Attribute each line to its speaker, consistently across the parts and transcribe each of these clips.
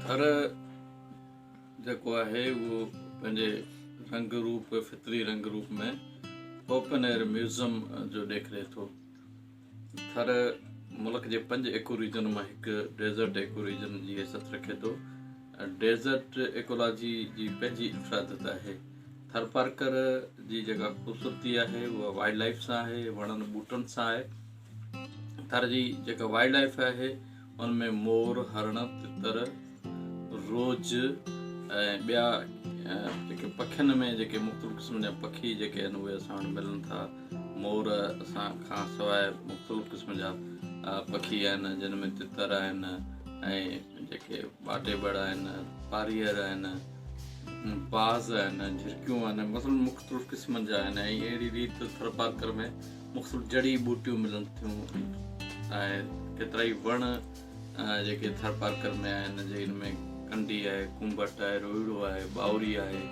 Speaker 1: ٿر جيڪو آهي اهو پنهنجي رنگ روپ فطري رنگ روپ ۾ اوپن ايئر ميوزم جو ڏيکري ٿو ٿر ملڪ جي پنج ايڪو ريجن مان هڪ ڊيزرٽ ايڪو ريجن جي حيثيت رکي ٿو ڊيزرٽ ايڪولاجي جي پنهنجي افرادت آهي ٿر پارڪر جي جيڪا خوبصورتي آهي اها وائلڊ لائف سان آهي وڻن ٻوٽن سان آهي ٿر جي جيڪا وائلڊ لائف آهي ان ۾ مور، هرڻ، تتر، روڄ ۽ ٻيا جيڪي پکين ۾ جيڪي مختلف قسمن جا پکي جيڪي آهن اهي اسان وٽ ملن ٿا. مور اسان کان سواء مختلف قسمن جا پکي آهن جن ۾ تتر آهن ۽ جيڪي ٻاٽي ٻڙ آهن، پاريهر آهن، باز آهن، جهرڪيون آهن مطلب مختلف قسمن جا آهن ۽ اهڙي ريت ٿرپارڪر ۾ مختلف جڙي ٻوٽيون ملن ٿيون ۽ ڪيترائي وڻ جيڪي ٿرپارڪر ۾ آهن جن ۾ ڪنڊي آهي ڪنبٽ آهي روئڙو آهي ٻاوري آهي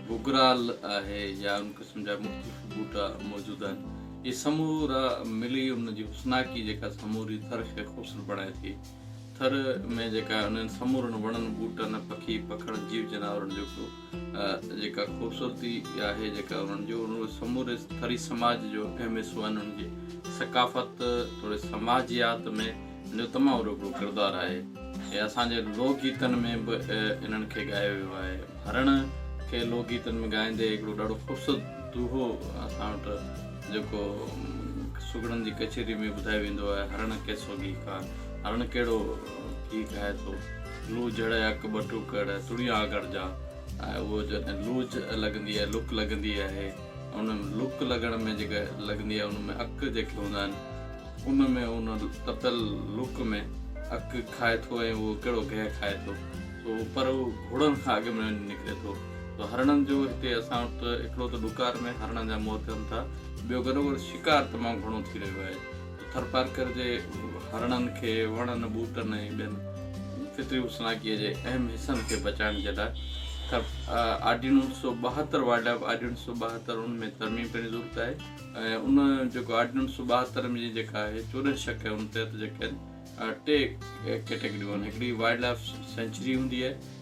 Speaker 1: گگرال آهي يا ان قسم جا مختلف ٻوٽا موجود آهن اهي سمورا ملي ان جي حسناڪي جيڪا سموري ٿر کي خوبصورت بڻائي ٿي ٿر ۾ جيڪا انهن سمورن وڻن ٻوٽن پکي پکڙ جيو جانورن جو جيڪا خوبصورتي آهي جيڪا انهن جو انهن جو سموري ٿري سماج جو اهم حصو آهن انهن جي ثقافت توڙي سماجيات ۾ انهن جو تمام وڏو هڪڙو ڪردار آهي ۽ اسان جي لوڪ گيتن ۾ به انهن کي ڳايو ويو آهي هرڻ کي لوڪ گيتن ۾ ڳائيندي هڪڙو ڏاڍو خوبصورت دوهو اسان وٽ جيڪو سگهڙن جي ڪچهري ۾ ٻڌايو ويندو آهي هرڻ ڪيسو گيهڪار هرڻ ڪهڙو ٿي کائي ٿو. لوء جهڙئي اک ٻٽو ڪڙ تڙيون آڳاڙ جا ۽ اهو جڏهن لوء لڳندي آهي، لڪ لڳندي آهي، ان لڪ لڳڻ ۾ جيڪا لڳندي آهي ان ۾ اک جيڪي هوندا آهن ان ۾ ان تپيل لڪ ۾ اک کائي ٿو ۽ اهو ڪهڙو گهه کائي ٿو سو پر اهو گهوڙن کان اڳ ۾ وڃي نڪري ٿو سو هرڻن جو هتي اسان وٽ هڪڙو ته ڏڪار ۾ هرڻن جا موت ٿين ٿا ٻيو گڏوگڏ شڪار تمام گهڻو ٿي رهيو آهي. ٿرپارڪر جي هرڻن کي وڻن، ٻوٽن ۽ ٻين فطري حسناڪيء جي اهم حصن کي بچائڻ جي لاء ٿر آرڊيننس اڻ سؤ ٻاهتر، Wildlife Ordinance اڻ سؤ ٻاهتر، ان ۾ ترميم ڪرڻ جي ضرورت آهي ۽ ان جيڪو آرڊيننس اڻ سؤ ٻاهتر جي جيڪا آهي چوڏهن شق آهي ان تحت جيڪي آهن ٽي ڪيٽيگريون آهن هڪڙي وائلڊ لائف سينچري هوندي آهي،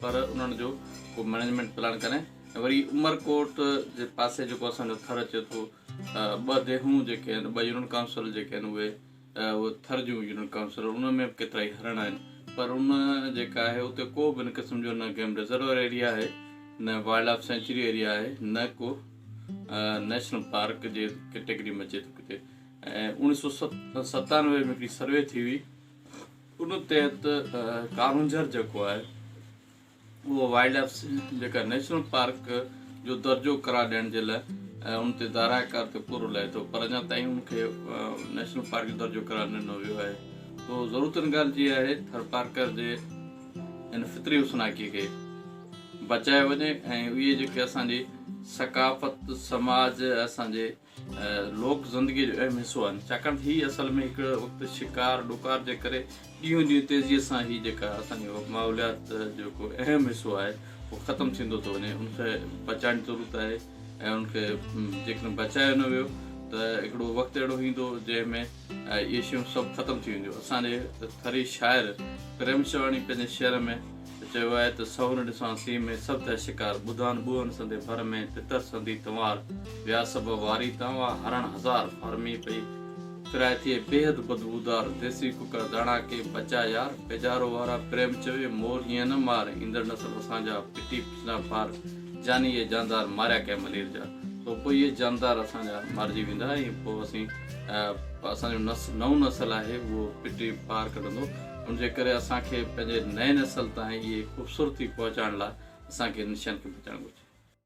Speaker 1: پر انهن جو ڪو مئنيجمينٽ پلان ڪرين ۽ وري عمرڪوٽ جي پاسي جيڪو اسان جو ٿر اچي ٿو ٻه ديهون جيڪي آهن ٻه يونٽ ڪائونسل جيڪي آهن اهي اهي ٿر جون يونٽ ڪائونسل انهن ۾ به ڪيترائي هرڻ آهن پر ان جيڪا آهي اتي ڪو به ان قسم جو نه گيم رزرور ايريا آهي نه وائلڊ لائف سينچري ايريا آهي نه ڪو نيشنل پارڪ جي ڪيٽيگري ۾ اچي ٿو ڪٿي ۽ اوڻيھ سو ستانوي ۾ هڪڙي سروي ٿي هئي ان تحت ڪارونجهر جيڪو آهي اهو وائلڊ لائف جيڪا نيشنل پارڪ جو درجو قرار ڏيڻ جي لاء ان تي دارا ڪار تي پورو لهي ٿو پر اڃا تائين ان کي نيشنل پارڪ جو درجو قرار نه ڏنو ويو آهي تو ضرور تن ڳالهه جي آهي ٿر پارڪر جي ان فطري حسناڪي کي بچايو وڃي ۽ اهي جيڪي اسانجي ثقافت سماج اسانجي لوڪ زندگيء جو اهم حصو آهن، ڇاڪاڻ ته هي اصل ۾ هڪ وقت شڪار ڏڪار جي ڪري ڏينهون ڏينهن تيزيء سان هي جيڪا اسان جي ماحوليات جو ڪو اهم حصو آهي اهو ختم ٿيندو ٿو وڃي ان کي بچائڻ جي ضرورت آهي ۽ ان کي جيڪڏهن بچايو نه ويو ته هڪڙو وقت اهڙو ايندو جنهن ۾ اهي شيون سڀ ختم ٿي وينديون. اسان جي ٿري شاعر پريم شرواڻي پنهنجي شعر ۾ چيو آهي ته سهن ڏسان سين ۾ سڀ ٿئي شڪار ٻڌان ٻوهن سندي ڀر ۾ تتر سندي تنوار ويا سڀ واري تان وئا هرڻ هزار ڦرمي پئي ڦرائي ٿئي بيحد بدبودار ديسي ڪڪڙ داڻا ڪي بچا يار پيدارو وارا پريم چوي مور هيئن نه مار ايندڙ نسل اسان جا پٽي نه ڦار، جاني اهي جاندار ماريا ڪنهن ملير جا، تو پوء اهي جاندار اسان جا مارجي ويندا ۽ پوء اسين اسان جو نئون نسل آهي اهو پٽي پار ڪڍندو، ان جي ڪري اسان کي پنهنجي نئين نسل تائين اهي خوبصورتي پهچائڻ لاء اسان کي انهن شين کي بچائڻ گهرجي.